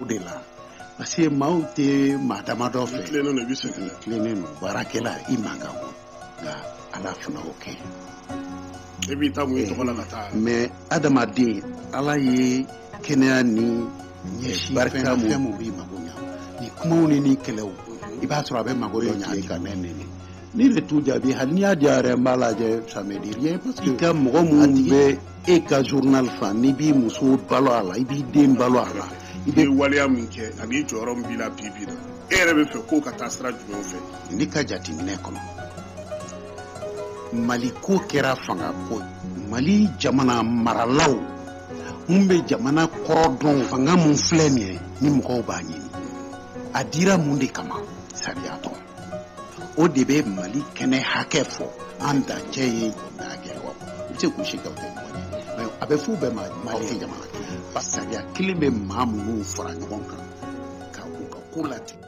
o de la parce que maaw tɛ maa damadɔ fɛ tilennen don i bɛ sɛgɛn na tilennen don baarakɛla i man kan o nka ala fana o kɛ e b'i ta mun i tɔgɔ la ka taa mɛ adamaden ala ye kɛnɛya ni ɲɛsin barika mu fɛn mu b'i mago ɲa ni kumaw ni ni kɛlɛw i b'a sɔrɔ a bɛ mago dɔ ɲa ka ne neni ne bɛ t'u jaabi hali n'i y'a diya yɛrɛ n b'a lajɛ ça me dit rien parce que i ka mɔgɔ minnu bɛ e ka journal fan n'i b'i muso balo a la i b'i den balo a la i bɛ waleya min kɛ ani jɔyɔrɔ min b'i la bi bi la e yɛrɛ bɛ fɛ k'o ka taa sira jumɛnw fɛ ne ka jateminɛ kɔnɔ mali ko kɛra fanga ko mali jamana maralaw mun bɛ jamana kɔrɔ dɔn fanga mun filɛ nin ye ni mɔgɔw b'a ɲini a dira mun de kama sariya tɔn o de bɛ mali kɛnɛ hakɛ fɔ an dancɛ ye jamana hakɛ wa u bɛ se k'u si kɛ u tɛ ɲɔgɔn ye mɛ a bɛ f'u bɛɛ ma mali ye jamana kelen ba sariya kelen bɛ maa minnu fara ɲɔgɔn kan ka u ka ko latigɛ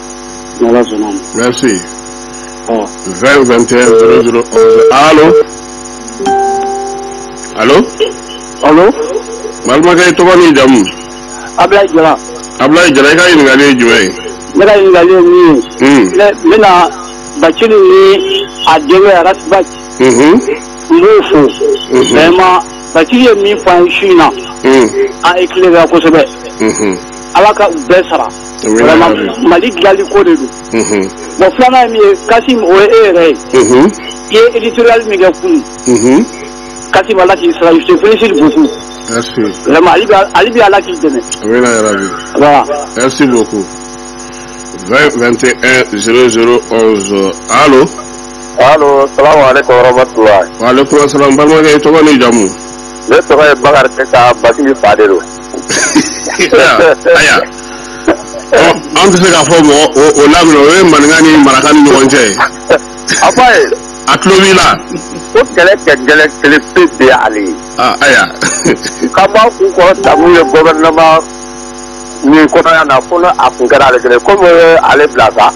N'Ala sɔnna a ma. Merci. Ɔ. 20 21 00 11 allo allo Alo, balimakɛ i tɔgɔ n'i jamu Ablaye Jara. abulayi jara i ka ɲininkali ye jumɛn ye Ne ka ɲininkali ye min ye, Hmm, ne n bɛna Bacili ni a denkɛ Ras Bath mhm, n b'u fo. Mhm. Vraiment, Bacili ye min fɔ an ye su in na, hmm, an éclairé kosɛbɛ. mhm. Ala ka u bɛɛ sara. mali dilanli ko de don bon filanan ye min ye kasim o ye e yɛrɛ ye i ye éditorial min kɛ kunun kasim ala k'i sara je te félicite beaucoup vraiment hali bi ala k'i dɛmɛ amina voilà merci beaucoup 20 21 00 11 allo allo salamu alaikum warahmatullahi wa alaikum assalam balimakɛ i tɔgɔ n'i jamu ne tɔgɔ ye bakari keyita bacili fa de don ayiwa an tɛ se k'a fɔ mɔgɔ o lamɛn o ye maninka ni maraka ni ɲɔgɔn cɛ ye a ba ye a tulo b'i la ko kɛlɛ kɛ gɛlɛ kɛlɛ pe de y'ale ye ayiwa k'an b'a kunkɔrɔta min ye gouvernement nin kɔnɔ yan fo a kun kɛra ale kelen komi ale bila sa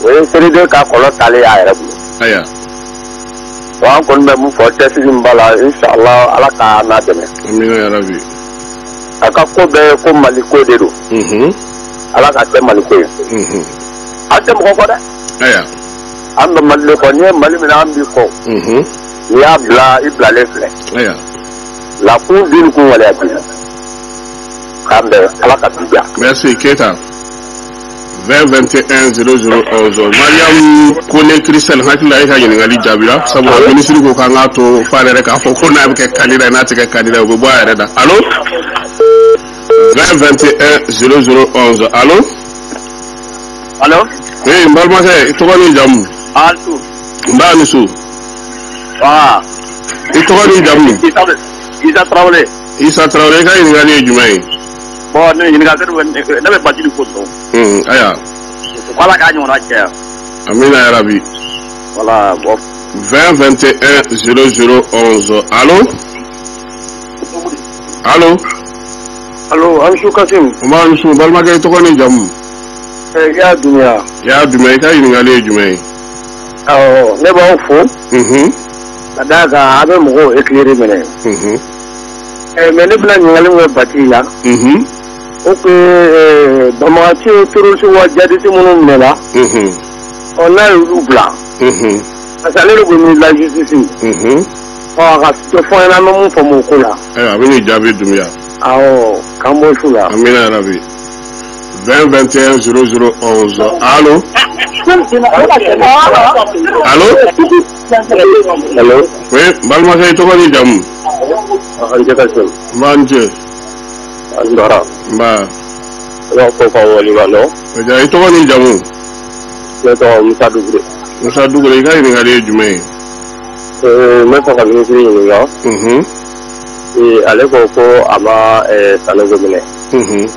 o ye seliden ka kɔlɔn talen y'a yɛrɛ bolo ayiwa Bon an kɔni bɛ mun fɔ cɛsiri min b'a la insalaah Ala ka an n'a dɛmɛ. Amina yarabi. A ka ko bɛɛ ye ko Mali ko de don. Unhun. Ala k'a kɛ Mali ko ye. Unhun. An tɛ mɔgɔ kɔ dɛ. Aya. An bɛ Mali de kɔ n'i ye Mali minɛ an b'i kɔ. Unhun. N'i y'a bila i bilalen filɛ. Aya. La kun bin kun waleya bi. K'an bɛn Ala ka bi diya. Merci Keyita. 2021 00 11 mariam kone christian hakilila e ka ɲininkali jaabira sabula minisiri ko k'an k'a to f'a yɛrɛ k'a fɔ ko n'a bɛ kɛ kandida ye n'a tɛ kɛ kandida ye o bɛ bɔ a yɛrɛ da alo 2021 00 11 alo alo ee n balimakɛ i tɔgɔ ni jamu a su nba a ni su wa i tɔgɔ ni jamu isa tarawele isa tarawele i ka ɲininkali ye jumɛn ye Bon ne ɲininka ne bɛ ba ko sɔn ayiwa ala k'a ɲɔgɔn cɛ yan an bɛ yɛrɛ bi wala bɔ fɛn fɛn tɛ ɛ s s sɔn alo alo alo an su kasi n b'a su balimakɛ tɔgɔ ni jamumu i y'a dun i y'a dun i ka ɲininkakali ye jumɛn ye ɔ ne b'aw fo ka d'a kan a bɛ mɔgɔw e tile de minɛ Ɛɛ mais ne bɛna ɲininkali min kɛ Batili la. Unhun! O tun ye ɛɛ banbaganciw ni terroriste wa djihadiste minnu minɛ la. Unhun! Ɔ n'a y'olu bila. Unhun! Parce que ale de ko ni la justice. Unhun! Ɔ a ka dɔ fɔ an ɲɛna an bɛ mun faamu o ko la. Ayiwa, a bɛ n'i jaabi Dunbiya. Awɔ, k'an bɔ su la. Amina ya rabi. 20 21 00 11. Allo? Allo? Allo. Oui, n balimakɛ i tɔgɔ ni jamu? A ni ce Kasim. Nba, a ni ce. A ni baara. Nba. N b'aw fo k'aw waleɲumandɔn. Ayiwa i tɔgɔ ni jamu? Ne tɔgɔ Musa Dugure. Musa Dugure i ka ɲininkali ye jumɛn ye? Ee n bɛ fɛ ka minisiri ɲininka. Unhun. Ee ale ko ko a ma ɛɛ Sanogo minɛ. Unhun.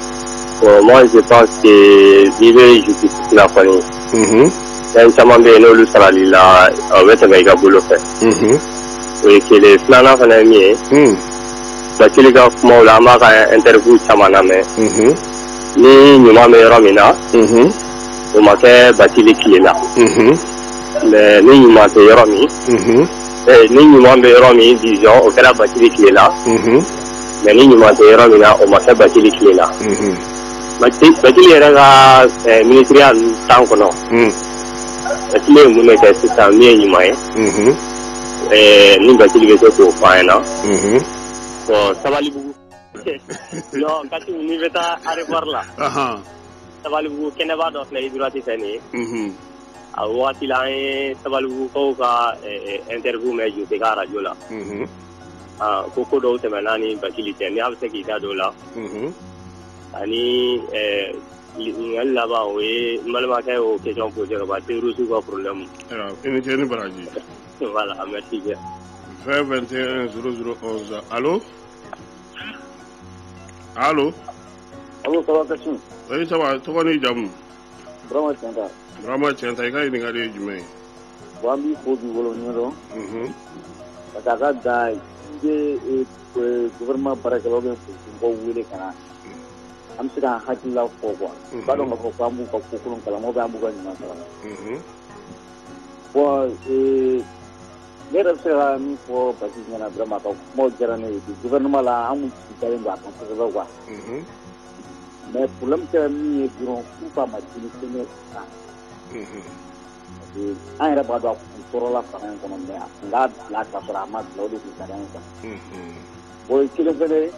Bon moi je pense que n'i bɛ justice la kɔni fɛn caman bɛ yen n'olu sarali la o bɛ tɛmɛ i ka bolo fɛ o ye kelen filanan fana ye min ye batili ka kumaw la an b'a ka interview caman lamɛn ni ɲuman bɛ yɔrɔ min na o ma kɛ batili tile la mais ni ɲuman tɛ yɔrɔ min ni ɲuman bɛ yɔrɔ min disons o kɛra batili tile la mais ni ɲuman tɛ yɔrɔ min na o ma kɛ batili tile la Batili yɛrɛ ka minisiriya temps kɔnɔ Batili ye mun kɛ sisan min ye ɲuman ye ɛɛ ni Batili bɛ se k'o fɔ an ɲɛ na bon Sabalibugu Kasim n'i bɛ taa aéroport la Sabalibugu kɛnɛba dɔ filɛ i droite fɛ nin ye a waati la an ye Sabalibugukaw ka interview mɛn ju se ka arajo la ko ko dɔw kɛmɛ naani ni Batili tɛ n' bɛ se k'i da dɔw la ani ɲininkali laban o ye n balimakɛ y'o question posé ka ban terroristes ka problème i ni ce i ni baraji voilà merci bien 20 21 00 11 allo allo allo ça va Kassim oui ça va tɔgɔ n'i jamu Burama Cɛnta Burama Cɛnta i ka ɲininkali ye jumɛn ye bon an b'i fo k'i waleɲumandɔn ka taa ka da i bɛ Gouvernement baarakɛlaw bɛ mɔgɔw wele ka na an bɛ se ka an hakilila fɔ quoi a b'a dɔn k'a fɔ ko an b'u ka kokolon kalama bɛ an b'u ka ɲuman kalama bon ne yɛrɛ bɛ se ka min fɔ basi ɲɛna vraiment a ka kuma diyara ne ye gouvernement la an dalen don a kan kosɛbɛ quoi mais parce que min ye dɔrɔn k'u ka ma jiri sɛnɛ kan an yɛrɛ b'a dɔn a tɔɔrɔla fanga in kɔnɔ mais a tun k'a bila ka sɔrɔ a ma bila o de tun sariya in kɔnɔ o ye kelen fɛnɛ ye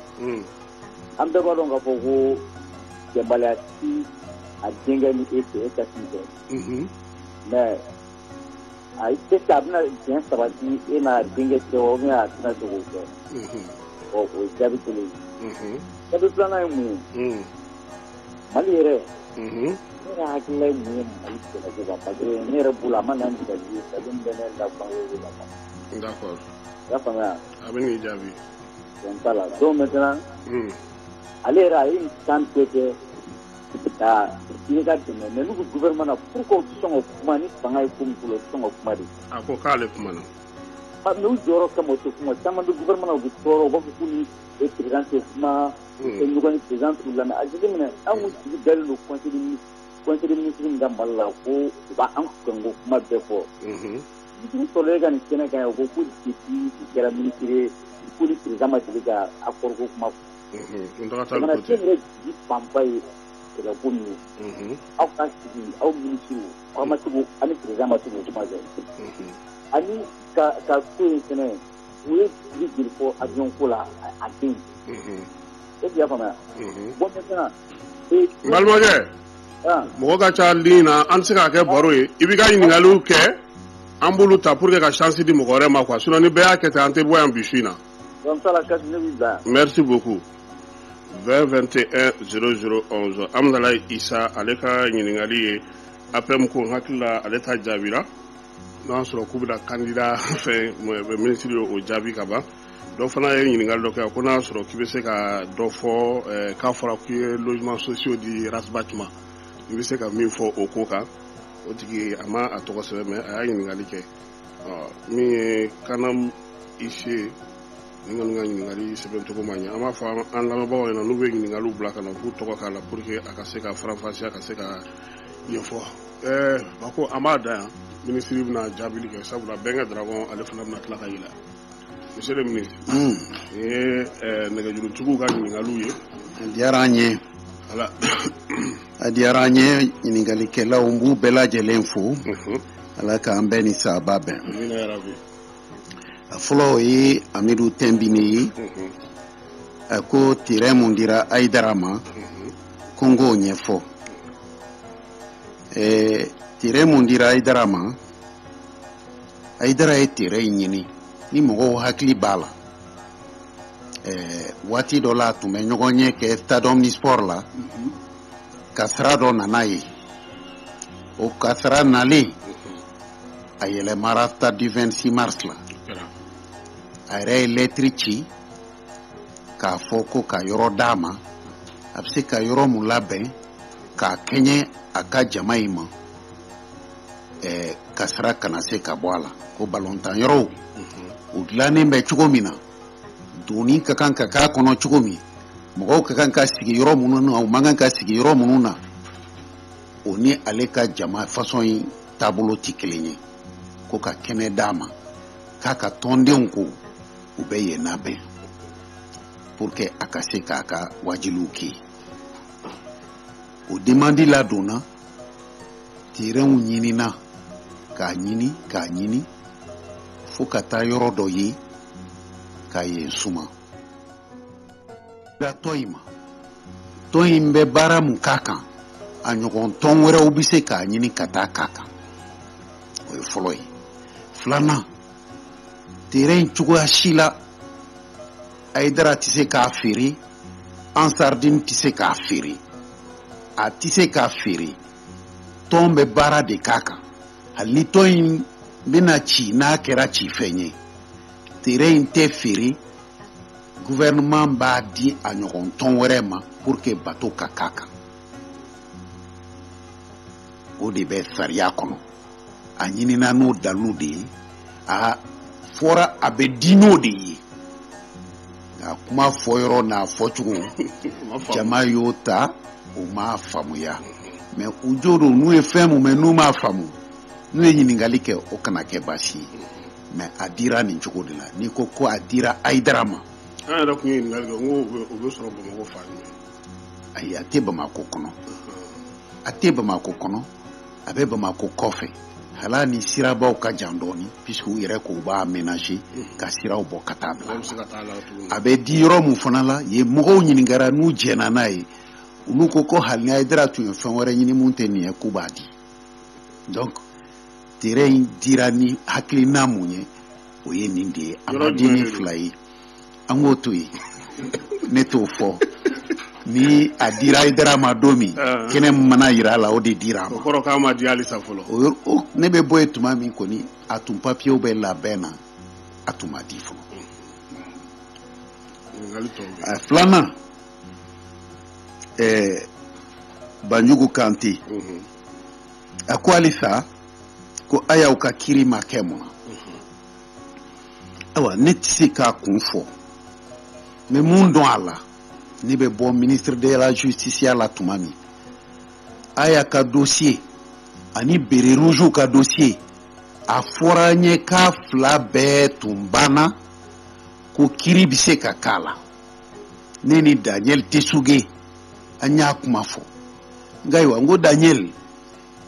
an bɛɛ b'a dɔn k'a fɔ ko bɛnbaliya tɛ a denkɛ ni e fɛ e ka t'i fɛ mais a tɛ se a bɛna diɲɛ sabati e n'a denkɛ cɛ wa ou bien a tɛna se k'o kɛ ɔ o ye jaabi kelen ye jaabi filanan ye mun ye mali yɛrɛ ne hakilila ye mun ye mali sɛnɛko kan parce que ne yɛrɛ bolo a ma na ni dalu ye dalu min bɛ ne la bangew de la quoi i y'a faamuya a bɛ n'i jaabi donc t'a la donc maintenant ale yɛrɛ a ye nin tan bɛɛ kɛ ka ɲini ka dɛmɛ mais n'u ko gouvernement na pourquoi u tɛ sɔn ka kuma ni fanga ye ko min bolo u tɛ sɔn ka kuma de a ko k'ale kumana mais u jɔyɔrɔ kama u tɛ kuma caman bɛ gouvernement na u bɛ tɔɔrɔ u b'a fɔ k'u ni président tɛ kuma ɲɔgɔn a jigi minɛ anw sigi dalen don conseil des ministres min ka mali la ko u b' an ka kuma bɛɛ fɔ jigi sɔrɔ e ka nin kɛnɛ ka yan ko ko kɛra ministre ko président ma jigin ka a kɔrɔ kuma jigi fanba ye kɛlɛko min ye aw ka sigi aw ministre aw ma tugu ani président ma sigi kuma kɛ ani ka ko in kɛnɛ ye u ye dugu joli fɔ avion ko la a tɛ yen, unhun, est ce que i y'a faamuya, unhun, bon maintenant ee, n balimakɛ han, mɔgɔ ka ca ligne na an tɛ se k'a kɛ baro ye i b'i ka ɲininkaliw kɛ an b'olu ta pour que ka chance di mɔgɔ wɛrɛ ma quoi sinon ni bɛɛ y'a kɛ ten an tɛ bɔ yan bi su in na. donc ça la casse ne b'i bila yan. Merci beaucoup. 20 21 00 11 Hamdalayi Isa ale ka ɲininkali ye APM ko n hakili la ale ta jaabira. n'o y'a sɔrɔ k'u bɛna kandida fɛn minisiri ye o jaabi ka ban dɔ fana ye ɲininkali dɔ kɛ ko n'a y'a sɔrɔ k'i bɛ se ka dɔ fɔ k'a fɔra k'i ye logement sociaux di Ras Bath ma i bɛ se ka min fɔ o ko kan o tigi a ma a tɔgɔ sɛbɛn mais a y'a ɲininkali kɛ min ye kanam ise ni kɔni ka ɲininkali sɛbɛn cogo ma ɲɛ an b'a fɔ an lamɛnbagaw ɲɛna n'u bɛ ɲininkaliw bila ka na u k'u tɔgɔ k'a la pour que a ka se ka faranfasi a ka se ka ɲɛfɔ ɛɛ a ko an b'a dan yan minisiri bɛna jaabili kɛ sabula bɛn ka dragon ale fana bɛna tila ka yɛlɛ monsieur le ministre hmm. o ye eh, nɛgɛjurutuguw ka ɲininkaliw ye a diyara an ye a diyara an ye ɲininkalikɛlaw n b'u bɛɛ lajɛlen fo mhm. ala k'an bɛɛ ni saaba bɛn a fɔlɔ o ye amidu tɛnbine ye mhm. a ko terɛn mun dira ayidara ma mhm. ko n k'o ɲɛfɔ eh, terɛn mun dira ayidara ma ayidara ye terɛn in ɲini ni mɔgɔw hakili b'a la eh, waati dɔ la a tun bɛ ɲɔgɔnye kɛ stade omnisports la mhm. kasara dɔ nana yen o kasara nalen a yɛlɛmara stade du 26 mars la a yɛrɛ ye lɛtiri ci k'a fɔ ko ka yɔrɔ d'a ma a bɛ se ka yɔrɔ mun labɛn k'a kɛɲɛ a ka jama in ma ɛɛ kasara kana se ka bɔ a la ko balontan yɔrɔw u mhm. dilannen bɛ cogo min na donni ka kan ka k'a kɔnɔ cogo min mɔgɔw ka kan ka sigi yɔrɔ minnu na u man kan ka sigi yɔrɔ minnu na o ni ale ka jama fasɔn in taabolo tɛ kelen ye ko ka kɛnɛ d'a ma k'a ka tɔndenw ko u bɛ yen labɛn pour que a ka se k'a ka waajuliw kɛ o demandi ladonna terɛnw ɲinina k'a ɲini k'a ɲini fo ka taa yɔrɔ dɔ ye ka yen suma da tɔn in ma tɔn in bɛ baara mun k'a kan a ɲɔgɔn tɔn wɛrɛw bɛ se k'a ɲini ka taa k'a kan o ye fɔlɔ ye filanan terɛn in cogoya si la ayidara tɛ se k'a feere ansaridini tɛ se k'a feere a tɛ se k'a feere tɔn bɛ baara de k'a kan hali ni tɔn in bɛna ci n'a kɛra ci fɛn ye terɛn in tɛ feere gouvernement b'a di a ɲɔgɔn tɔn wɛrɛ ma pour que bato ka k'a kan o de bɛ sariya kɔnɔ a ɲinina n'o dalilu de ye a fɔra a bɛ di n'o de ye nka a kuma fɔ yɔrɔ n'a fɔcogo jama y'o ta o ma faamuya mais u jo don n'u ye fɛn mun mɛn n'u m'a faamu n'u ye ɲininkali kɛ o kana kɛ baasi ye mais a dira nin cogo de la n'i ko ko a dira ayidara ma an yɛrɛ tun ye ɲininkali kɛ n ko o bɛ sɔrɔ bamakɔ fan jumɛn ayi a tɛ bamakɔ kɔnɔ a tɛ bamakɔ kɔnɔ a bɛ bamakɔ kɔfɛ hali ni sirabaw ka jan dɔɔni puisque u yɛrɛ k'u b'a aménager ka siraw bɔ ka taa bila a bɛ di yɔrɔ min fana la yen mɔgɔw ɲininkara n'u jɛna n'a ye olu ko ko hali ni ayidara tun ye fɛn wɛrɛ ɲini mun tɛ nin ye k'u b'a di donc terrain in dira ni hakilina mun ye o ye nin de ye a ma di ni fila ye an k'o to yen ne t'o fɔ ni a dira ayidara ma don min kɛnɛ min mana jira a la o de dira a ma kɔrɔ k'a ma di halisa fɔlɔ ne bɛ bɔ yen tuma min kɔni a tun papiyew bɛ labɛn na a tun ma di fɔlɔ filanan ɛɛ banjugu kante a ko halisa ko ayaw ka kiri ma kɛ mun na ayiwa ne tɛ se k'a kun fɔ n bɛ mun dɔn a la ne bɛ bɔ ministre de la justiceya la tuma min aya ka dossier ani bere rougew ka dossier a fɔra n ye k'a fila bɛɛ tun banna ko kiri bɛ se ka k'a la ne ni daniel tesuge an y'a kuma fɔ nka ayiwa n ko daniel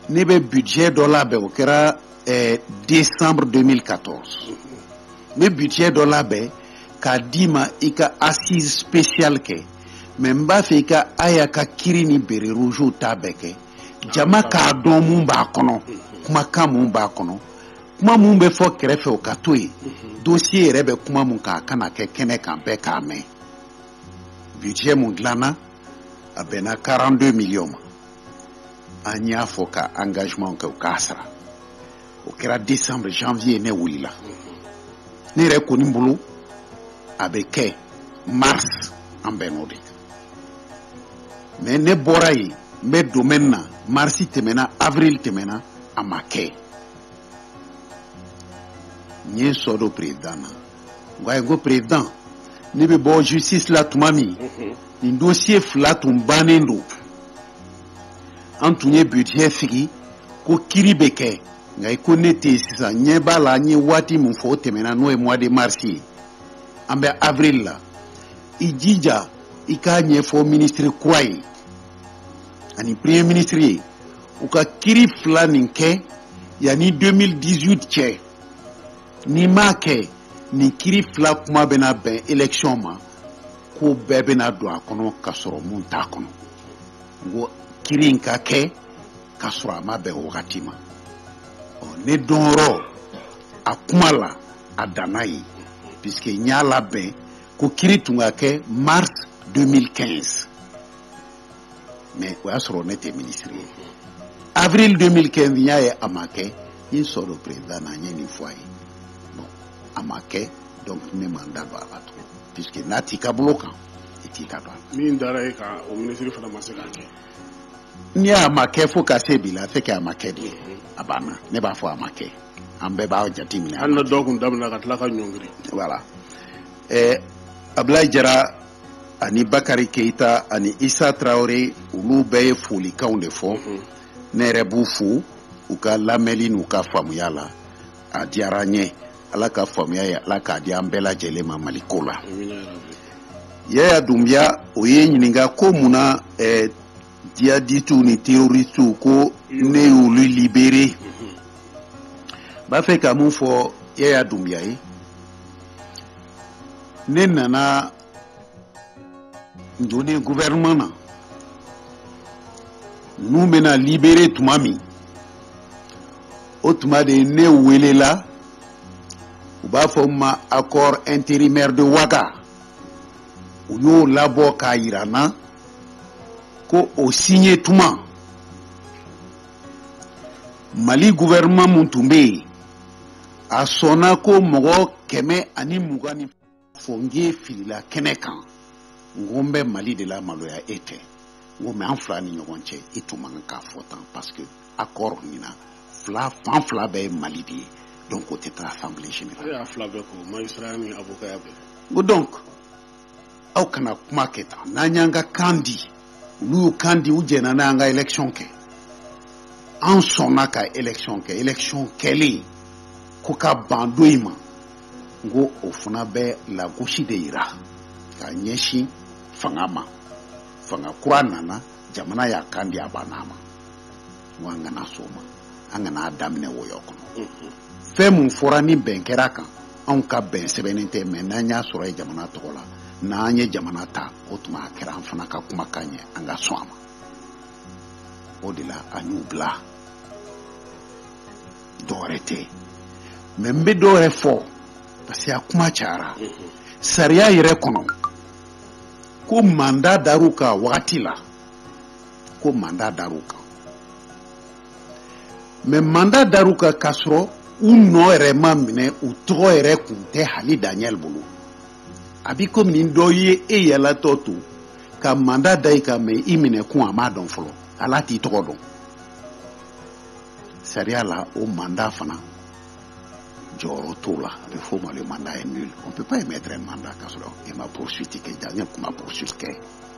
ne bɛ budget dɔ labɛn o kɛra eh, décembre 2014 n bɛ budget dɔ labɛn k'a d'i ma i ka assise spéciale kɛ mais n b'a fɛ i ka aya ka kiri ni bere rougew ta bɛɛ kɛ jama k'a dɔn mun b'a kɔnɔ kumakan mun b'a kɔnɔ kuma mun bɛ fɔ kɛrɛfɛ o ka to yen dossier yɛrɛ bɛ kuma mun kan a ka na kɛ kɛnɛ kan bɛɛ k'a mɛn budget mun dilanna a bɛnna 42 millions ma an y'a fɔ ka engagementw kɛ u k'a sara o kɛra décembre janvier ne wulila ne yɛrɛ kɔni bolo a bɛ kɛ mars an bɛn'o de kan mais ne bɔra yen n bɛ domaine na mars tɛmɛna avril tɛmɛna a ma kɛ n ye sɔ don président na n k'a ye ko président ne bɛ bɔ justice la tuma min nin dossier fila tun bannen don an tun ye budget sigi ko kiri bɛ kɛ nka i ko ne tɛ yen sisan n ɲɛ b'a la an ye waati min fɔ o tɛmɛna n'o ye mois de mars ye an bɛ avril la i jija i k'a ɲɛfɔ ministre kura ye ani premier ministre ye u ka kiri fila nin kɛ yanni 2018 cɛ n'i m'a kɛ nin kiri fila kuma bɛna bɛn election ma ko bɛɛ bɛna don a kɔnɔ ka sɔrɔ mun t'a kɔnɔ n ko kiri in ka kɛ ka sɔrɔ a ma bɛn wagati ma ne dɔnyɔrɔ a kuma la a danna yen puisque n y'a labɛn ko kiri tun ka kɛ mars 2015 mais o y'a sɔrɔ ne tɛ minisiri ye avril 2015 n y'a ye a ma kɛ n ye n sɔrɔ président na n ye nin fɔ a ye bon a ma kɛ donc ne ma n da don a la tugun puisque n'a t'i ka bolo kan i t'i da don a la min dara e kan o minisiri fana ma se k'a kɛ ni a ma kɛ fo ka se bi la c'est que a ma kɛ de ye a banna ne b'a fɔ a ma kɛ an bɛɛ b'a jate minɛ hali na dɔw kun daminɛ ka tila ka ɲɔngiri voilà ɛɛ abulayi jara ani bakari keita ani isa tarawele olu bɛɛ ye folikanw de fɔ mhm. ne yɛrɛ b'u fo u ka lamɛnli n'u ka faamuya la a diyara an ye ala ka faamuya ye ala k'a di an bɛɛ lajɛlen ma mali ko la yaya dunbiya o y'i ɲininka ko mun na eh, jihadistiw ni teroristiw ko ne y'olu libere mhm. i b'a fɛ ka mun fɔ yaya dunbiya ye ne nana don gouvernement na ninnu bɛna libere tuma min o tuma de ne welela u b'a fɔ min ma accord intérimaire de ouaga u y'o labɔ k'a yira n na ko o signe tuma mali gouvernement min tun bɛ yen a sɔnna ko mɔgɔ kɛmɛ ani mugan ni fɔ n k'e filila kɛnɛ kan n ko n bɛ mali de lamaloya e tɛ n ko mais an fila ni ɲɔgɔn cɛ i tun man k'a fɔ tan parce que accord nin na fila fan fila bɛɛ ye mali de ye donc o tɛ taa assemblée générale. E y'a fila bɛɛ ko magistrat ni avocat bɛɛ. N ko donc aw kana kuma kɛ tan n'an y'an ka kan di olu y'u kan di u jɛnna an ka election kɛ an sɔnna ka election kɛ election kɛlen ko ka ban don in ma n ko o fana bɛ lagosi de yira ka ɲɛsin fanga ma fanga kura nana jamana y'a kan di a banna a ma an kana so ma an kana daminɛ wɔyɔ kɔnɔ fɛn min fɔra ni bɛn kɛra a kan anw ka bɛn sɛbɛnnen tɛ mais n'an y'a sɔrɔ ye jamana tɔgɔ la n'an ye jamana ta o tuma a kɛra an fana ka kumakan ye an ka sɔn a ma o de la an y'u bila dɔwɛrɛ tɛ mais n bɛ dɔwɛrɛ fɔ parce que a kuma cayara sariya yɛrɛ kɔnɔ ko mandat dar'u kan wagati la ko mandat dar'u kan mais mandat dar'u kan k'a sɔrɔ u nɔ yɛrɛ ma minɛ u tɔgɔ yɛrɛ kun tɛ hali daniel bolo a bi komi ni dɔ ye e yaalatɔ to ka mandat da i kan mais i minɛ kun a m'a dɔn fɔlɔ ale t'i tɔgɔ dɔn sariya la o mandat fana jɔyɔrɔ t'o la a bɛ f'o ma le mandat est nul on peut pas émettre un mandat k'a sɔrɔ e ma poursuite kɛ daniel kun ma poursuite kɛ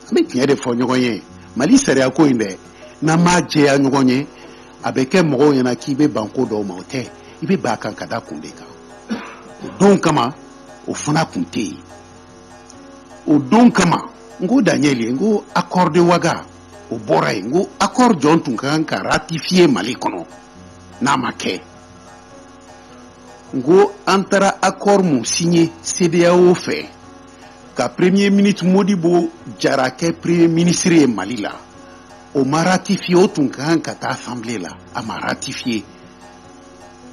an bɛ tiɲɛ de fɔ ɲɔgɔn ye mali sariya ko in dɛ n'an m'a jɛya ɲɔgɔn ye a bɛ kɛ mɔgɔw ɲɛna k'i bɛ ban ko dɔw ma o tɛ i bɛ ban kan ka da kun de kan o don kama o fana kun tɛ yen o don kama n ko daniel ye n ko accord de ouaga o bɔra yen n ko accord jɔn tun ka kan ka ratifier mali kɔnɔ n'a ma kɛ n ko an taara accord min signer cedeao fɛ ka premier ministre modibo jara kɛ premier ministre ye mali la o ma ratifier o tun ka kan ka taa assemblée la a ma ratifier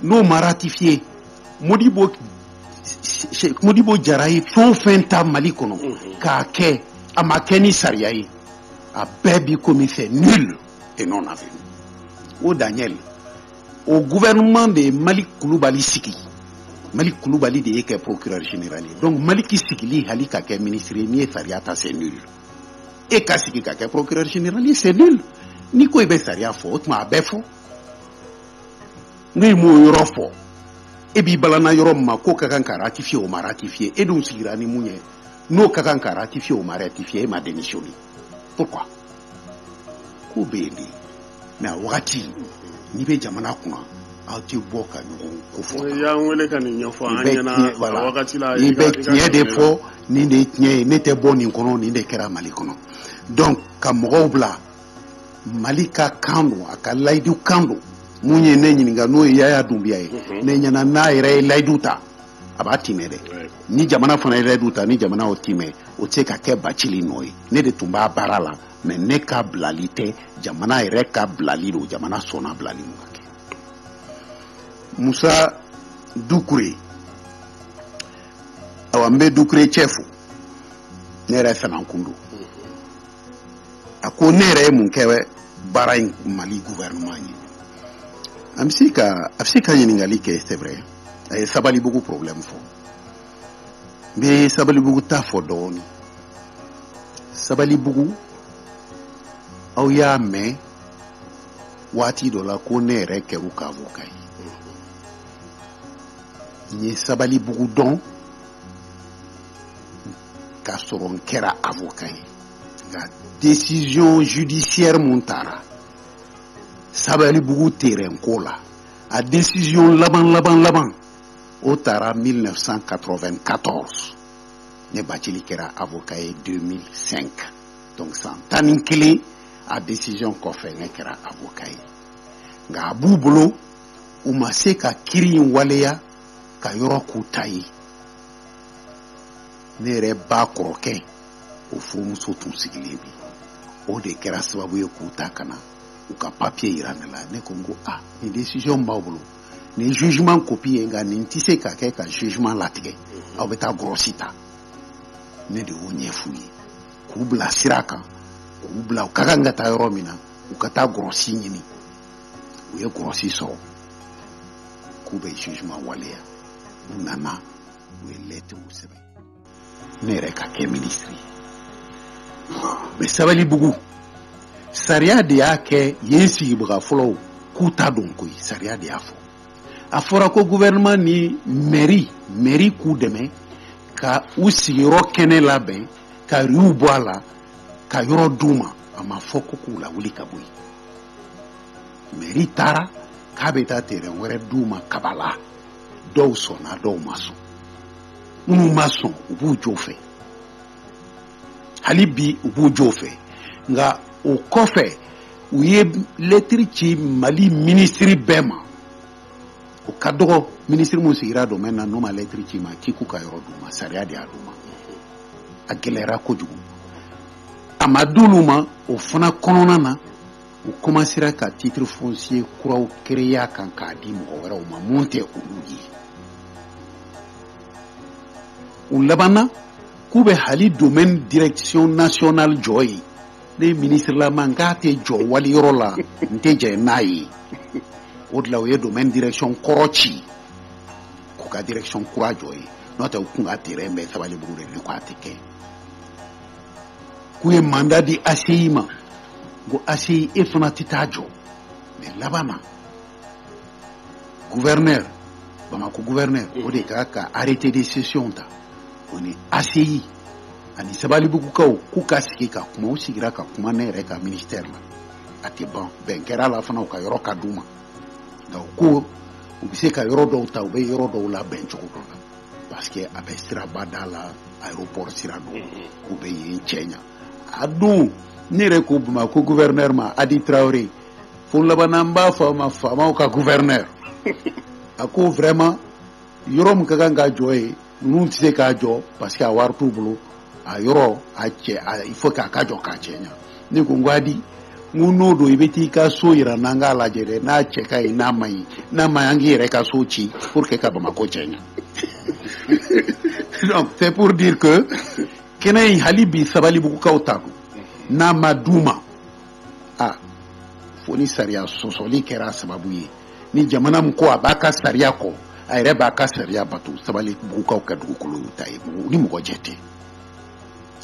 n'o ma ratifier modibo modibo jara ye fɛn o fɛn ta mali kɔnɔ mhm. k'a kɛ a ma kɛ ni sariya ye a bɛɛ bi komi c'est nul et non avenu o daniel o gouvernement de ye maliki kulubali sigi maliki kulubali de y'e kɛ procureur général ye donc maliki sigili hali ka kɛ ministre ye n'i ye sariya ta c'est nul e ka sigi ka kɛ procureur général ye c'est nul n'i ko i bɛ sariya fɔ o tuma a bɛɛ fɔ ni e m'o yɔrɔ fɔ e b'i balana yɔrɔ min ma k'o ka kan ka ratifier o ma ratifier e dun sigira ni mun ye n'o ka kan ka ratifier o ma ratifier e ma démissionner pourquoi ko bɛ yen dɛ mais a wagati n'i bɛ jamana kunna aw tɛ bɔ ka ɲɔgɔn ko fɔ i y'an wele ka nin ɲɛfɔ an ɲɛna a wagati la i bɛ tiɲɛ de fɔ nin de ye tiɲɛ ye ne tɛ bɔ nin kɔnɔ nin de kɛra mali kɔnɔ donc ka mɔgɔw bila mali ka kan don a ka layidu kan don min ye ne ɲininka n'o ye yaya dunbiya ye ne ɲɛna n'a yɛrɛ ye layidu ta a b'a tiɲɛ dɛ ni jamana fana yɛrɛ du ta ni jamana o tiɲɛ o tɛ se ka kɛ bacili nɔ ye ne de tun b'a baara la mɛ ne ka bilali tɛ jamana yɛrɛ ka bilali don jamana sɔnna bilali ma kɛ musa dukure awa n bɛ dukure cɛ fo ne yɛrɛ fanankun don a ko ne yɛrɛ ye mun kɛ baara ye mali gouvernement ye an bɛ se ka a bɛ se ka ɲininkali kɛ c'est vrai a ye sabalibugu problème fɔ n bɛ sabalibugu ta fɔ dɔɔnin sabalibugu aw y'a mɛn waati dɔ la ko ne yɛrɛ kɛr'u ka avoka ye n ye sabalibugu dɔn k'a sɔrɔ n kɛra avoka ye nka décision judiciaire min tara sabalibugu terrain ko la a desiziyɔn laban laban laban o tara 1994 ne bacili kɛra avoka ye 2005 donc san tan ni kelen a desiziyɔn kɔfɛ ne kɛra avoka ye nka a b'u bolo u ma se ka kiri in waleya ka yɔrɔ k'u ta ye ne yɛrɛ ba kɔrɔkɛ o furumuso tun sigilen bi o de kɛra sababu ye k'u ta ka na u ka papiye yira ne la ne ko n ko a nin decision b'aw bolo nin jugement kopi ye nka nin tɛ se ka kɛ ka jugement latigɛ mhm. aw bɛ taa gɔrɔsi ta ne de y'o ɲɛf'u ye k'u bila sira kan k'u bila u ka kan ka taa yɔrɔ min na u ka taa gɔrɔsi ɲini u ye gɔrɔsi sɔrɔ k'u bɛ jugement waleya u nana u ye lɛtiriw sɛbɛn ne yɛrɛ ka kɛ minisiri ye mɛ sabalibugu sariya de y'a kɛ yen sigibaga fɔlɔw k'u ta don koyi sariya de y'a fɔ a fɔra ko gouvernement ni mɛri mɛri k'u dɛmɛ ka u sigiyɔrɔ kɛnɛ labɛn ka riw bɔ a la ka yɔrɔ d'u ma a ma fɔ ko k'u lawuli ka bɔ yen mɛri taara k'a bɛ taa terɛn wɛrɛ d'u ma kabala dɔw sɔnna dɔw ma sɔn minnu ma sɔn u b'u jo fɛ hali bi u b'u jo fɛ nka o kɔfɛ u ye lɛtiri ci mali minisiri bɛɛ ma o ka dɔgɔ minisiri min sigira domɛni na n'o ma lɛtiri c'i ma k'i k'u ka yɔrɔ d'u ma sariya de y'a d'u ma a gɛlɛyara kojugu a ma d'olu ma o fana kɔnɔna na u komansera ka titre foncier kuraw créer a kan k'a di mɔgɔ wɛrɛw ma minnu tɛ olu ye u labanna k'u bɛ hali domaine direction nationale jɔ yen ne minisirilama n k'a tɛ jɔ wali yɔrɔ la n tɛ jɛn n'a ye o de la u ye domaine direction kɔrɔ ci k'u ka direction kura jɔ yen n'o tɛ u kun ka terrain bɛ sabalibugu de k'a tɛ kɛ k'u ye mandat di ACI ma n ko ACI e fana tɛ taa jɔ mɛ laban na guvɛrinɛri bamako guvɛrinɛri o de ka kan ka arrêté de cession ta o ni ACI ani sabalibugukaw k'u ka sigi ka kuma u sigira ka kuma ne yɛrɛ ka ministɛri la a tɛ ban bɛn kɛra la fana u ka yɔrɔ ka d'u ma nka u ko u bɛ se ka yɔrɔ dɔw ta u bɛ yɔrɔ dɔw labɛn cogo dɔ la parce que a bɛ siraba da la aéroport sira don u bɛ yen cɛɲa a don ne yɛrɛ ko bamako guvɛrinɛri ma hadi tarawele fo laban na an b'a fɔ a ma faama ka guvɛrinɛri a ko vraiment yɔrɔ min ka kan ka jɔ yen ninnu tɛ se k'a jɔ parce que a wari t'u bolo a yɔrɔ il faut que a ka jɔ k'a cɛɲa ne ko hadi n ko n'o don i bɛ t'i ka so jira an na an k'a lajɛ dɛ n'a cɛ ka ɲi n'a man ɲi n'a ma an k'i yɛrɛ ka so ci pour que ka bamakɔ cɛɲa c'est pour dire que kɛnɛ in hali bi sabalibugukaw ta don n'a ma d'u ma a fo ni sariya sɔsɔli kɛra a sababu ye ni jamana min ko a b'a ka sariya kɔ a yɛrɛ b'a ka sariya bato sabalibugukaw ka dugukolo y'u ta ye ni mɔgɔ jɛ tɛ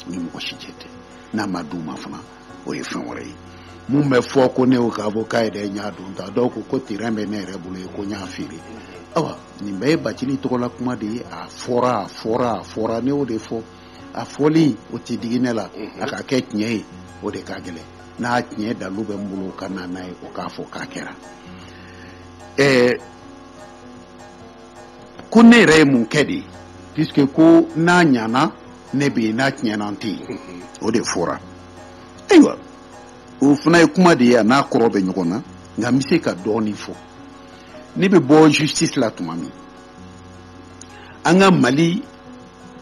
ni mɔgɔ si jɛ tɛ n'a ma d'u ma fana o ye fɛn wɛrɛ ye min bɛ fɔ ko ne y'o k'a fɔ k'a yɛrɛ y'a dɔ ta donc ko terrain bɛ ne yɛrɛ bolo yen ko n y'a feere awa nin bɛɛ ye bacili tɔgɔla kuma de ye a fɔra a fɔra a fɔra ne y'o de fɔ a fɔli o tɛ digi ne la a ka kɛ tiɲɛ ye o de ka gɛlɛn n'a tiɲɛ dalu bɛ min bolo o ka na n'a ye o k'a fɔ k'a kɛra ɛɛ ko ne yɛrɛ ye mun kɛ dɛ puisque ko n'a ɲana ne bɛ yen n'a tiɲɛna n tɛ yen o de fɔra ayiwa o fana ye kuma de ye a n'a kɔrɔ bɛ ɲɔgɔn na nka n bɛ se ka dɔɔnin fɔ ne bɛ bɔ justice la tuma min an ka mali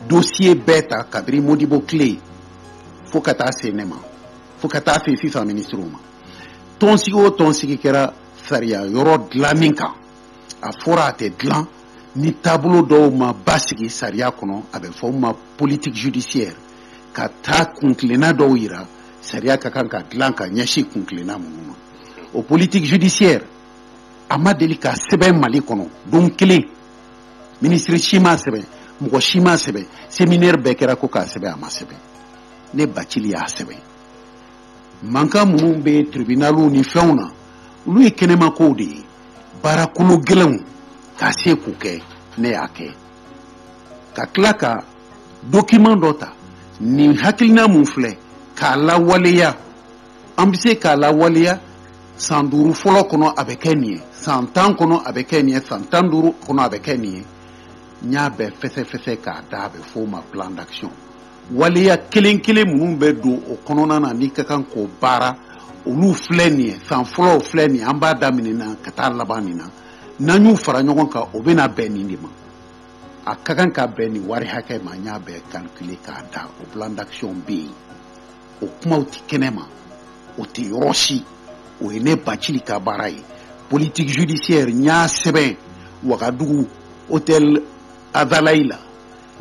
dosiye bɛɛ ta kabiri modibo tile fo ka taa se ne ma fo ka taa se sisan minisiriw ma tɔnsigi o tɔnsigi kɛra sariya yɔrɔ dilanni kan a fɔra a tɛ dilan ni taabolo dɔw ma basigi sariya kɔnɔ a bɛ f'o ma politique judiciaire ka taa kuntilenna dɔw yira sariya ka kan ka dilan ka ɲɛsin kuntilenna minnu ma o politique judiciaire a ma deli ka sɛbɛn mali kɔnɔ don kelen minisiri si m'a sɛbɛn mɔgɔ si m'a sɛbɛn seminɛri bɛɛ kɛra ko k'a sɛbɛn a ma sɛbɛn ne bacili y'a sɛbɛn mankan minnu bɛ tribunaliw ni fɛnw na olu ye kɛnɛma kow de ye baarakolo gɛlɛnw ka se k'u kɛ ne y'a kɛ ka tila ka document dɔ ta nin hakilina mun filɛ k'a lawaleya an bɛ se k'a lawaleya san duuru fɔlɔ kɔnɔ a bɛ kɛ nin ye san tan kɔnɔ a bɛ kɛ nin ye san tan duuru kɔnɔ a bɛ kɛ nin ye n y'a bɛɛ fɛsɛfɛsɛ k'a da a bɛ f'o ma plan d'action waleya kelen kelen minnu bɛ don o kɔnɔna na n'i ka kan k'o baara olu filɛ nin ye san fɔlɔw filɛ nin ye an b'a daminɛ na ka taa laban nin na n'an y'u fara ɲɔgɔn kan o bɛna bɛn nin de ma a ka kan ka bɛn nin wari hakɛ ma n y'a bɛɛ calculer k'a da o plan d'action bɛ yen o kumaw tɛ kɛnɛ ma o tɛ yɔrɔ si o ye ne bacili ka baara ye politique judiciaire n y'a sɛbɛn wagadugu hôtel azalayi la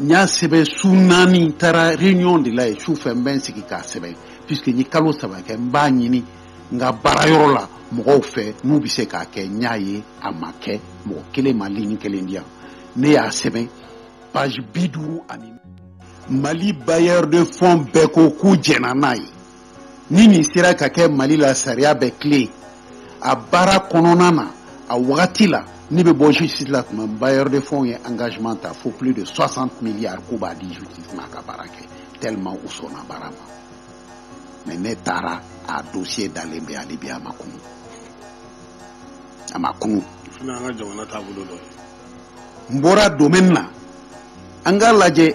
n y'a sɛbɛn su naani n taara réunion de la yen su fɛ n bɛ n sigi k'a sɛbɛn puisque n ye kalo saba kɛ n b'a ɲini n ka baara yɔrɔ la mɔgɔw fɛ n'u bɛ se k'a kɛ n y'a ye a ma kɛ mɔgɔ kelen ma ligne kelen di yan ne y'a sɛbɛn page bi duuru ani mali bailleur de fonds bɛɛ ko k'u jɛnna n'a ye ni nin sera ka kɛ mali la sariya bɛ tilen a baara kɔnɔna na a wagati la ne bɛ bɔ justice la tuma bailleur de fonds ye engagement ta fo plus de 60 milliards k'u b'a di justice ma ka baara kɛ tellement u sɔnna baara ma mais ne taara a dossier dalen bɛ hali bi a ma kunu a ma kunu n bɔra domaine na an k'a lajɛ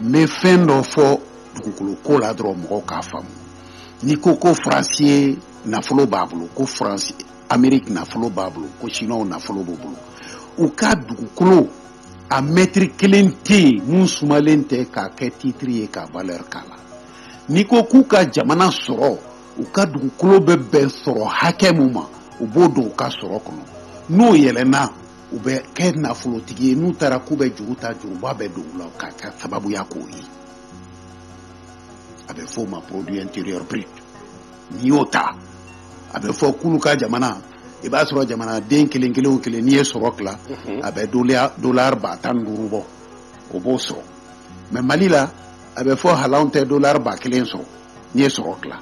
n bɛ fɛn dɔ fɔ dugukolo ko la dɔrɔn mɔgɔw k'a faamu n'i ko ko faransi ye nafolo b'a bolo ko faransi ameriki nafolo b'a bolo ko siniwaw nafolo b'u bolo u ka dugukolo a mɛtiri kelen tɛ yen mun sumalen tɛ k'a kɛ titiri ye ka valeur k'a la n'i ko k'u ka jamana sɔrɔ u ka dugukolo bɛ bɛn sɔrɔ hakɛ mun ma u b'o don u ka sɔrɔ kɔnɔ n'o yɛlɛnna u bɛ kɛ nafolotigi ye n'u taara k'u bɛ juru ta juruba bɛ don u la k'a sababuya k'o ye a bɛ fɔ o ma produit intérieur brut n'i y'o ta a bɛ fɔ k'olu ka jamana i b'a sɔrɔ jamanaden kelen kelen o kelen n'i ye sɔrɔ tila a bɛ dolari ba tan ni duuru bɔ o b'o sɔrɔ mais mali la a bɛ fɔ hali anw tɛ dolari ba kelen sɔrɔ n'i ye sɔrɔ tila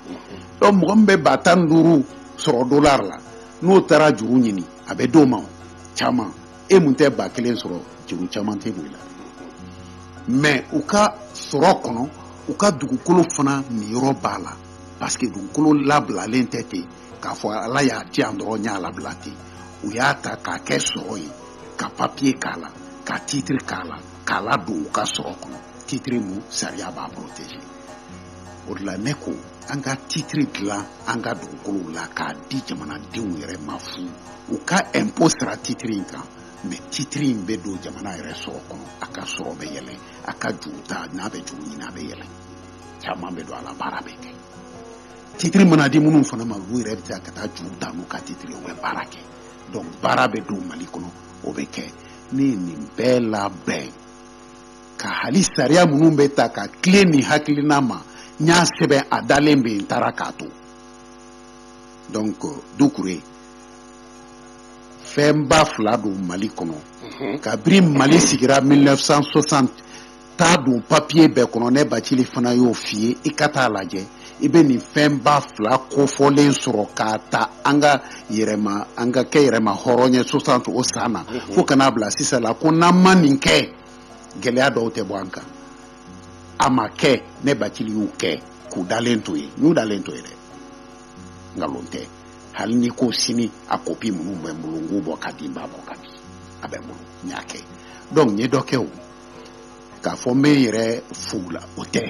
donc mɔgɔ min bɛ ba tan ni duuru sɔrɔ dolari la n'o taara juru ɲini a bɛ d'o ma caman e mun tɛ ba kelen sɔrɔ juru caman tɛ don i la mɛ u ka sɔrɔ kɔnɔ u ka dugukolo fana niyɔrɔ b'a la paseke dugukolo labilalen tɛ ten k'a fɔ ala y'a di yan dɔrɔn y'a labila ten u y'a ta k'a kɛ sɔrɔ ye ka papiye k'a la ka titiri k'a la k'a ladon u ka sɔrɔ kɔnɔ titiri mun sariya b'a protéger o de la ne ko an ka titiri dilan an ka dugukolow la k'a di jamanadenw yɛrɛ ma fu u ka ɛnpo sara titiri in kan mɛ titiri in bɛ don jamana yɛrɛ sɔrɔ kɔnɔ a ka sɔrɔ bɛ yɛlɛ a ka juru ta n'a bɛ juru ɲini a bɛ yɛlɛ caman bɛ don a la baara bɛ kɛ titiri mana di minnu fana ma olu yɛrɛ bɛ se ka taa juru ta n'u ka titiri u bɛ baara kɛ donc baara bɛ don mali kɔnɔ o bɛ kɛ ne ye nin bɛɛ labɛn ka hali sariya minnu bɛ ta ka tilen nin hakilina ma n y'a sɛbɛn a dalen bɛ n taara k'a to donc dukure fɛnba fila don mali kɔnɔ mhm. kabiri mali sigira 1960 taa don papiye bɛɛ kɔnɔ ne bacili fana y'o f'i ye i ka taa lajɛ i bɛ nin fɛnba fila kofɔlen sɔrɔ k'a ta an ka yɛrɛma an ka kɛ yɛrɛma hɔrɔn ye 60 o san na mhm. fo ka n'a bila sisan la ko n'an ma nin kɛ gɛlɛya dɔw tɛ bɔ an kan a ma kɛ ne bacili y'u kɛ k'u dalen to yen u dalen to yen dɛ nkalon tɛ hali n'i ko sini a kopi minnu bɛ n bolo n k'u bɔ ka di n b'a bɔ ka di a bɛ n bolo n y'a kɛ donc n ye dɔ kɛ o k'a fɔ n bɛ n yɛrɛ fo la o tɛ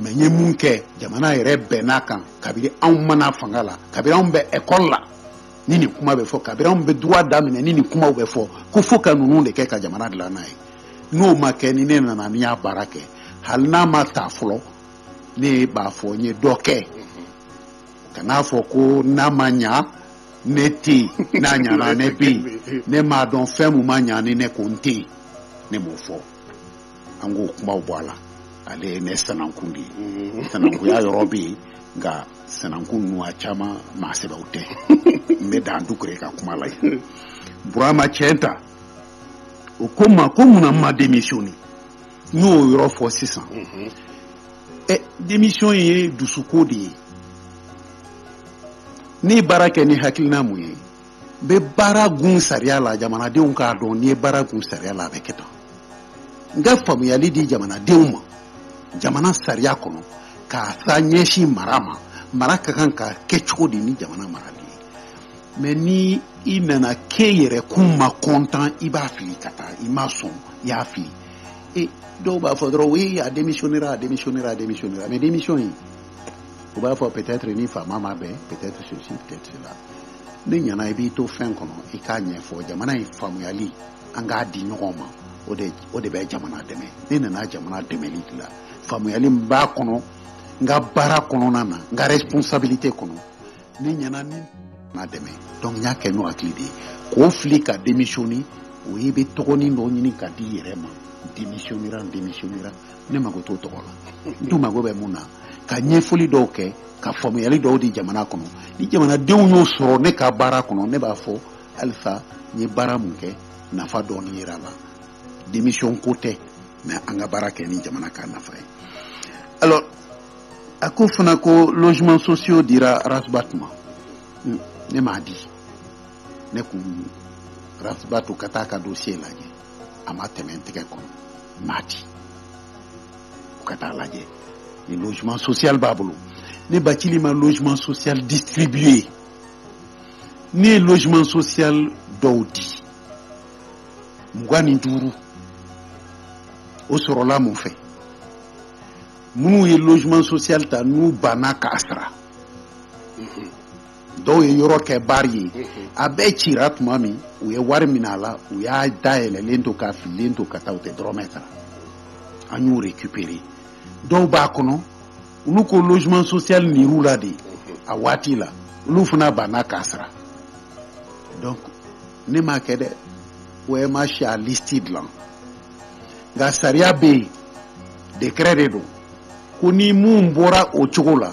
mɛ n ye mun kɛ jamana yɛrɛ bɛnn'a kan kabiri anw ma na fanga la kabiri anw bɛ ekɔli la ni nin kuma bɛ fɔ kabiri anw bɛ droit daminɛ ni nin kumaw bɛ fɔ ko fo ka ninnu de kɛ ka jamana dilan n'a ye n'o ma kɛ ni ne nana n y'a baara kɛ hali n'a ma ta fɔlɔ ne b'a fɔ n ye dɔ kɛ kan'a fɔ ko n'a ma ɲa ne tɛ yen n'a ɲana ne bɛ yen ne m'a dɔn fɛn min ma ɲa ni ne ko n tɛ yen ne m'o fɔ an k'o kumaw bɔ a la ale ye ne sanankun de ye mm-hmm. sanankunya yɔrɔ bɛ yen nka sanankun ninnu a caman maa sɛbɛw tɛ n bɛ dan dukure ka kuma la yen burama cɛnta o ko n ma ko mun na n ma demisiyɔne n y'o yɔrɔ fɔ sisan mm-hmm. ɛ demisiyɔn ye dusuko de ye ne ye baara kɛ ni hakilina mun ye n bɛ baara kɛ sariya la jamanadenw k'a dɔn n'i ye baara kɛ sariya la a bɛ kɛ tan n ka faamuyali di jamanadenw ma jamana sariya kɔnɔ k'a sa ɲɛsin mara ma mara ka kan ka kɛ cogo di ni jamana marali ye mɛ ni i nana k'e yɛrɛ kun ma kɔntan i b'a fili ka taa i ma sɔn i y'a fili e dɔw b'a fɔ dɔrɔn oui a démissionnera a démissionnera a démissionnera mais démission in u b'a fɔ peut-être ni faama ma bɛn peut-être ceci peut-être cela ne ɲɛ na i b'i to fɛn kɔnɔ i k'a ɲɛfɔ jamana ye faamuyali an k'a di ɲɔgɔn ma o de o de bɛ jamana dɛmɛ ne nana jamana dɛmɛli de la faamuyali min b'a kɔnɔ n ka baara kɔnɔna na n ka responsabilité kɔnɔ ne ɲɛ na ni na dɛmɛ donc n y'a kɛ n'o hakili de ye k'o fili ka démissionner o ye i bɛ tɔgɔnin dɔ ɲini k'a di i yɛrɛ ma démissionnera n démissionnera ne mago t'o tɔgɔ la n tun mago bɛ mun na ka ɲɛfɔli dɔw kɛ ka faamuyali dɔw di jamana kɔnɔ ni jamanadenw y'o sɔrɔ ne ka baara kɔnɔ ne b'a fɔ halisa n ye baara mun kɛ nafa dɔɔni yera a la démission ko tɛ mais an ka baara kɛ ni jamana ka nafa ye alors a ko fana ko logement social dira Ras Bath ma hmm, ne m'a di ne ko Ras Bath u ka taa a ka dossier lajɛ a ma tɛmɛ n tɛgɛ kɔnɔ n m'a di u ka taa a lajɛ ni logement social b'a bolo ne bacili ma logement social distribuer ne ye logement social dɔw di mugan ni duuru o sɔrɔla mun fɛ minnu ye logement social ta n'u banna k'a sara dɔw ye yɔrɔ kɛ baari ye a bɛɛ cira tuma min u ye wari minɛ a la u y'a dayɛlɛlen to k'a fililen to ka taa u tɛ dɔrɔmɛ sara an y'o récupérer dɔw b'a kɔnɔ olu ko logement social nir'u la de a waati la olu fana banna k'a sara donc ne m'a kɛ dɛ OMH y'a liste dilan nka sariya bɛ yen décret de don ko ni mun bɔra o cogo la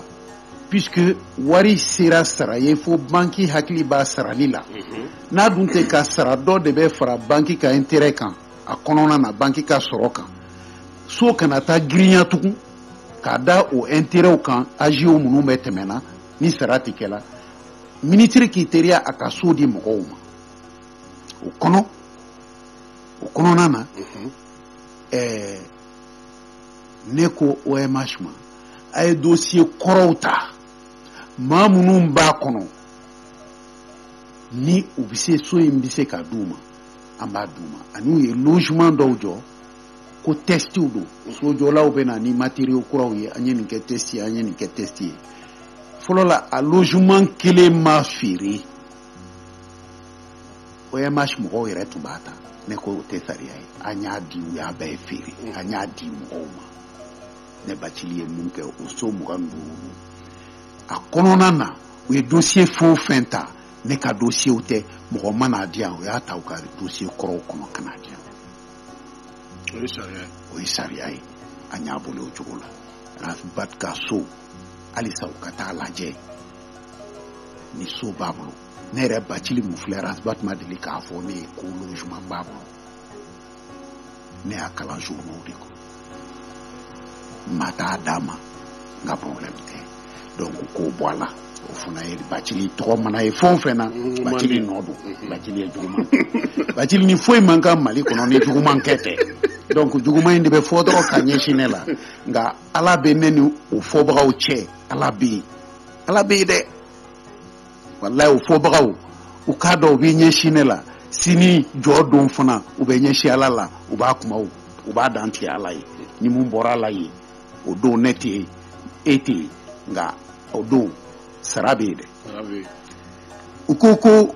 puisque wari sera sara ye fo banki hakili b'a sarali la mhm. n'a dun tɛ ka sara dɔ de bɛ fara banki ka intérêt kan a kɔnɔna na banki ka sɔrɔ kan so kana taa girinya tugun k'a da o intérêtw kan agiow minnu bɛ tɛmɛna ni sara tɛ kɛla minisiri k'i teriya a ka so di mɔgɔw ma o kɔnɔ o kɔnɔna na mhm. ɛɛ ne ko omh ma a ye dosiye kɔrɔw ta maa minnu b'a kɔnɔ ni u bɛ se so in bɛ se ka d'u ma an b'a d'u ma ani u ye logement dɔw jɔ ko tɛstiw don sojɔlaw bɛ na ni materiyo kuraw ye an ye nin kɛ tɛsti ye an ye nin kɛ tɛsti ye fɔlɔ la a logement kelen ma feere OMH mɔgɔw yɛrɛ tun b'a ta ne ko o tɛ sariya ye a y'a di u y'a bɛɛ feere a y'a di mɔgɔw ma ne bacili ye mun kɛ o so mugan ni duuru a kɔnɔna na u ye dosiye fɛn o fɛn ta ne ka dosiyew tɛ mɔgɔ ma n'a di yan u y'a ta u ka dosiye kɔrɔw kɔnɔ ka n'a di yan o ye sariya ye o ye sariya ye an y'a bila o cogo la rasbat ka so halisa u ka taa lajɛ ni so b'a bolo ne yɛrɛ bacili mun filɛ rasbat ma deli k'a fɔ ne ye ko logement b'a bolo ne y'a kalan journaux de kɔnɔ maa t'a d'a ma n ka problème tɛ donc k'o bɔ a la o fana ye bacili tɔgɔ mana ye fɛn o fɛn na bacili nɔ don bacili ye juguman bacili ni foyi man kan mali kɔnɔ ni juguman kɛ tɛ donc juguman in de bɛ fɔ dɔrɔn ka ɲɛsin ne la nka ala bɛ ne ni o fɔbagaw cɛ ala bɛ yen ala bɛ yen dɛ walayi o fɔbagaw u k'a dɔn u bɛ ɲɛsin ne la sini jɔ don fana u bɛ ɲɛsin ala la u b'a kuma u b'a dantigɛ ala ye ni mun bɔra ala ye o don ne tɛ yen e tɛ yen nka o don sara bɛ yen dɛ u ko ko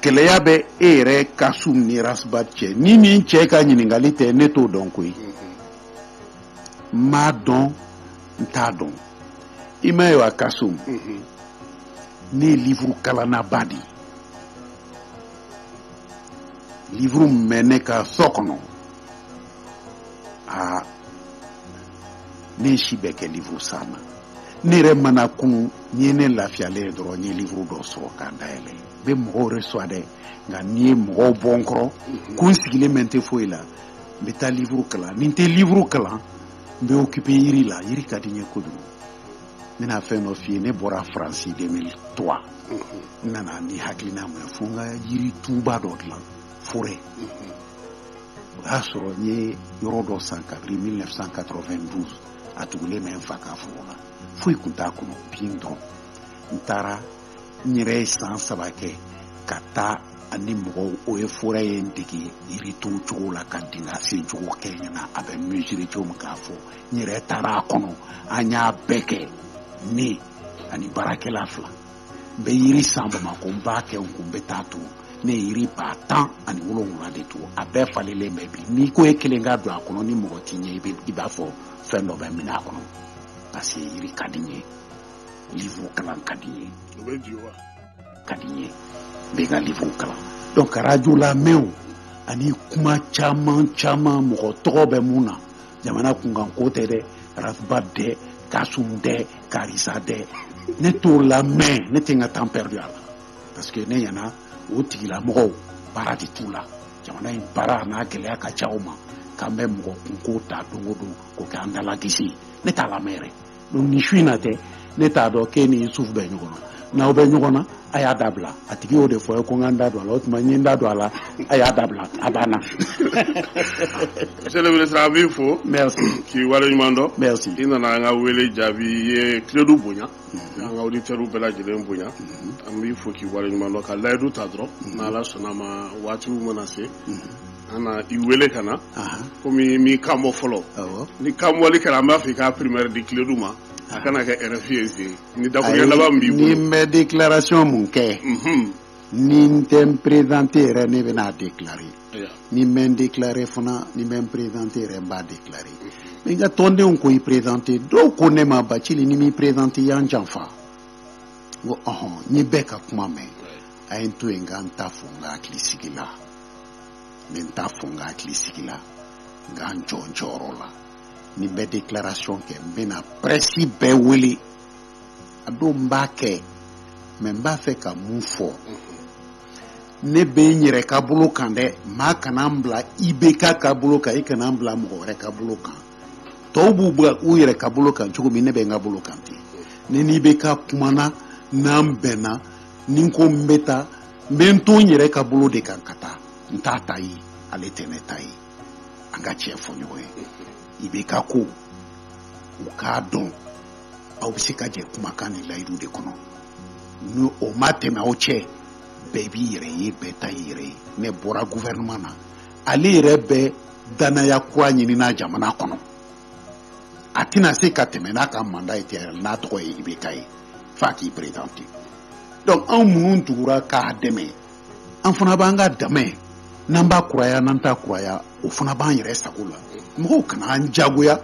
gɛlɛya bɛ e yɛrɛ kasum ni rasbat cɛ ni nin cɛ ka ɲininkali tɛ ne t'o dɔn koyi n m'a dɔn n t'a dɔn i m'a ye wa kasum ne ye livuru kalannaba de ye livuru min bɛ ne ka so kɔnɔ aa ne si bɛ kɛ livuru san na ne yɛrɛ mana kun n'i ye ne lafiyalen ye dɔrɔn n ye livuru dɔ sɔrɔ k'a dayɛlɛ n bɛ mɔgɔw recevoir dɛ nka n'i ye mɔgɔw bɔ n kɔrɔ ko n sigilen bɛ n tɛ foyi la n bɛ taa livuru kalan ni n tɛ livuru kalan n bɛ okipe yiri la yiri ka di n ye kojugu n bɛna fɛn dɔ f'i ye ne bɔra faransi 2003 n nana ni hakilina mun ye fo n ka yiri tuba dɔ dilan forɛ o y'a sɔrɔ n ye yɔrɔ dɔ san kabiri 1992 a tugulen bɛ n fa ka foro la foyi tun t'a kɔnɔ bin dɔrɔn n taara n yɛrɛ ye san saba kɛ ka taa ani mɔgɔw eaux et forêts ye n dege yiri turu cogo la ka dingɛ sen cogo kɛ n ɲɛ na a bɛ mesurer cogo min k'a fɔ n yɛrɛ taara a kɔnɔ an y'a bɛɛ kɛ ne ani baarakɛla fila n bɛ yiri san bamakɔ n b'a kɛ n kun n bɛ t'a turu ne ye yiri ba tan ani wolonwula de turu a bɛɛ falenlen bɛ bi n'i ko e kelen ka don a kɔnɔ ni mɔgɔ t'i ɲɛ i b'a fɔ fɛn dɔ b'i minɛ a kɔnɔ parce que yiri ka di n ye livre kalan ka di n ye o bɛ di wa ka di ye bɛɛ ka livre kalan donc radio lamɛnw ani kuma caman caman mɔgɔ tɔgɔ bɛ mun na jamana kunkanko tɛ dɛ ras bath tɛ kasum tɛ karisa tɛ ne t'o lamɛn ne tɛ n ka temps perdu a la parce que ne ɲɛna o tigilamɔgɔw baara de t'u la jamana in baara n'a gɛlɛya ka ca o ma k'an bɛ mɔgɔ kunko ta don o don k'o kɛ an dalakisi ye ne t'a lamɛn yɛrɛ ni su in na tɛ ne t'a dɔn k'e n'isufu bɛ ɲɔgɔn na n'aw bɛ ɲɔgɔn na a y'a dabila a tigi y'o de fɔ ye ko n ka n da don a la o tuma n ye n da don a la a y'a dabila a banna monsieur le ministre an b'i fo merci k'i wale ɲuman dɔn merci i nana an ka wele jaabi i ye kledu bonya an ka auditeurs bɛɛ lajɛlen bonya an b'i fo k'i wale ɲuman dɔn ka layidu ta dɔrɔn n'ala sɔnna a ma waatiw mana se K'an na i wele ka na Ahan. komi i m'i kan bɔ fɔlɔ Awɔ. n'i kanbɔli kɛra an b'a fɔ i k'a primeur di kledu ma a kana kɛ RFI ye ten ni dakuruɲɛ laban min b'i ni bolo n bɛ déclaration mun kɛ Mhm. ni n tɛ n présenter yɛrɛ ne bɛna a déclarer Ayiwa. ni n bɛ n déclarer fana ni n bɛ n présenter yɛrɛ n b'a déclarer mais n ka tɔndenw ko i présenter dɔw ko ne ma Bacili n'i m'i présenter i y'an janfa n ko ɔhɔn n ye bɛɛ ka kuma mɛn a ye n to yen n ka n ta fɔ n ka hakili sigi la n bɛ n ta fɔ n ka hakili sigi la n ka n jɔ n jɔyɔrɔ la ni n bɛ déclaration kɛ n bɛna prɛsi bɛɛ wele a don n b'a kɛ mais n b'a fɛ ka mun fɔ ne bɛ n yɛrɛ ka bolo kan dɛ maa kana n bila IBK ka bolo kan i kana n bila mɔgɔ wɛrɛ ka bolo kan tɔw b'u yɛrɛ ka bolo kan cogo min ne bɛ n ka bolo kan ten ne ni IBK kumana n'an bɛnna ni n ko n bɛ taa n bɛ n to n yɛrɛ ka bolo de kan ka taa n t'a ta ye ale tɛ ne ta ye an ka tiɲɛ fɔ ɲɔgɔn ye IBK ko u k'a dɔn aw bɛ se ka jɛ kumakan ni layidu de kɔnɔ ni o ma tɛmɛ aw cɛ bɛɛ b'i yɛrɛ ye bɛɛ ta y'i yɛrɛ ye ne bɔra gouvernement na ale yɛrɛ bɛ dannaya kura ɲinina jamana kɔnɔ a tɛna se ka tɛmɛ n'a ka manda ye tɛrɛ n'a tɔgɔ ye IBK ye f'a k'i présenter donc anw minnu tugura k'a dɛmɛ an fana b'an ka dɛmɛ n'an b'a kuraya n'an t'a kuraya o fana b'an yɛrɛ sago la mɔgɔw kana an jagoya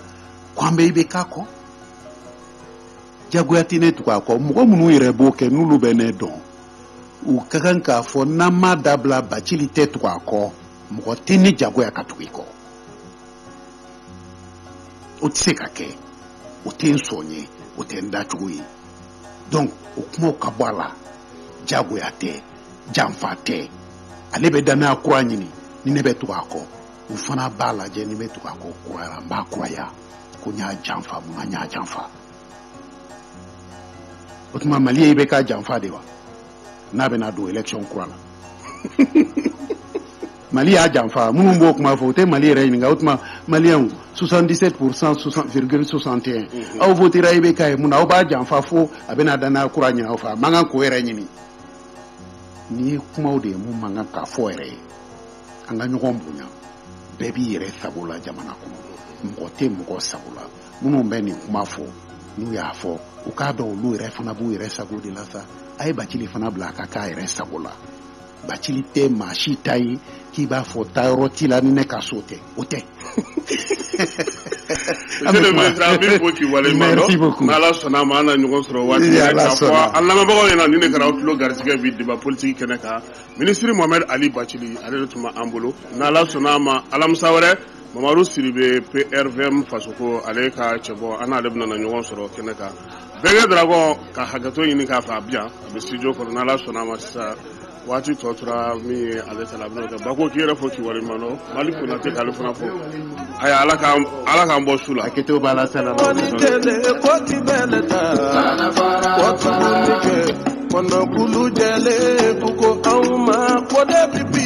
ko an bɛ IBK kɔ jagoya tɛ ne tugu a kɔ mɔgɔ minnu yɛrɛ b'o kɛ n'olu bɛ ne dɔn u ka kan k'a fɔ n'an m'a dabila bacili tɛ tugu a kɔ mɔgɔ tɛ ne jagoya ka tugu i kɔ o tɛ se ka kɛ o tɛ n sɔn ye o tɛ n dacogo ye donc o kumaw ka bɔ a la jagoya tɛ janfa tɛ ale bɛ danaya kura ɲini ni ne bɛ tugu a kɔ n fana b'a lajɛ ni n bɛ tugu a kɔ kuraya n b'a kuraya ko n y'a janfa mun na n y'a janfa o tuma mali ye IBK janfa de wa n'a bɛna don election kura la mali y'a janfa minnu b'o kuma fɔ u tɛ mali yɛrɛ ɲininka o tuma maliyɛnw 77 pourcent virgule 61 mhm. aw votera IBK ye mun na aw b'a janfa fo a bɛna danaya kura ɲini aw fɛ a man kan k'o yɛrɛ ɲini nin ye kumaw de ye min man kan ka fɔ yɛrɛ ye an ka ɲɔgɔn bonya bɛɛ b'i yɛrɛ sago la jamana kɔnɔ mɔgɔ tɛ mɔgɔ sago la minnu bɛ nin kuma fɔ n'u y'a fɔ u k'a dɔn olu yɛrɛ fana b'u yɛrɛ sago de la sa a ye bacili fana bila a ka k'a yɛrɛ sago la bacili tɛ maa si ta ye k'i b'a fɔ taayɔrɔ t'i la ni ne ka so tɛ o tɛ ala sɔnna ma an na ɲɔgɔn sɔrɔ waati k'a fɔ an lamɛnbagaw ɲɛna nin in kɛra tulo garisɛgɛ bi deba politiki kɛnɛ kan minisiri mohamɛd ali bacili ale de tun bɛ an bolo n'ala sɔnna a ma alamisa wɛrɛ Mamadu Sidibe PRVM fasoko ale ka cɛbɔ an n'ale bɛna ɲɔgɔn sɔrɔ kɛnɛ kan bɛnkɛ dragɔn ka hakɛto ɲini k'a fo a bɛ yan a bɛ studio kɔnɔ n ala sɔnna a ma sisan waati tɔ tora min ye ale ta ba ko k'i yɛrɛ fo k'i waleɲumandɔn Maliki Konate k'ale fana fo a ala k'an bɔ su la a ke b'a la sa bɛ kɔnɔkulu jɛlen ko ko anw ma ko bi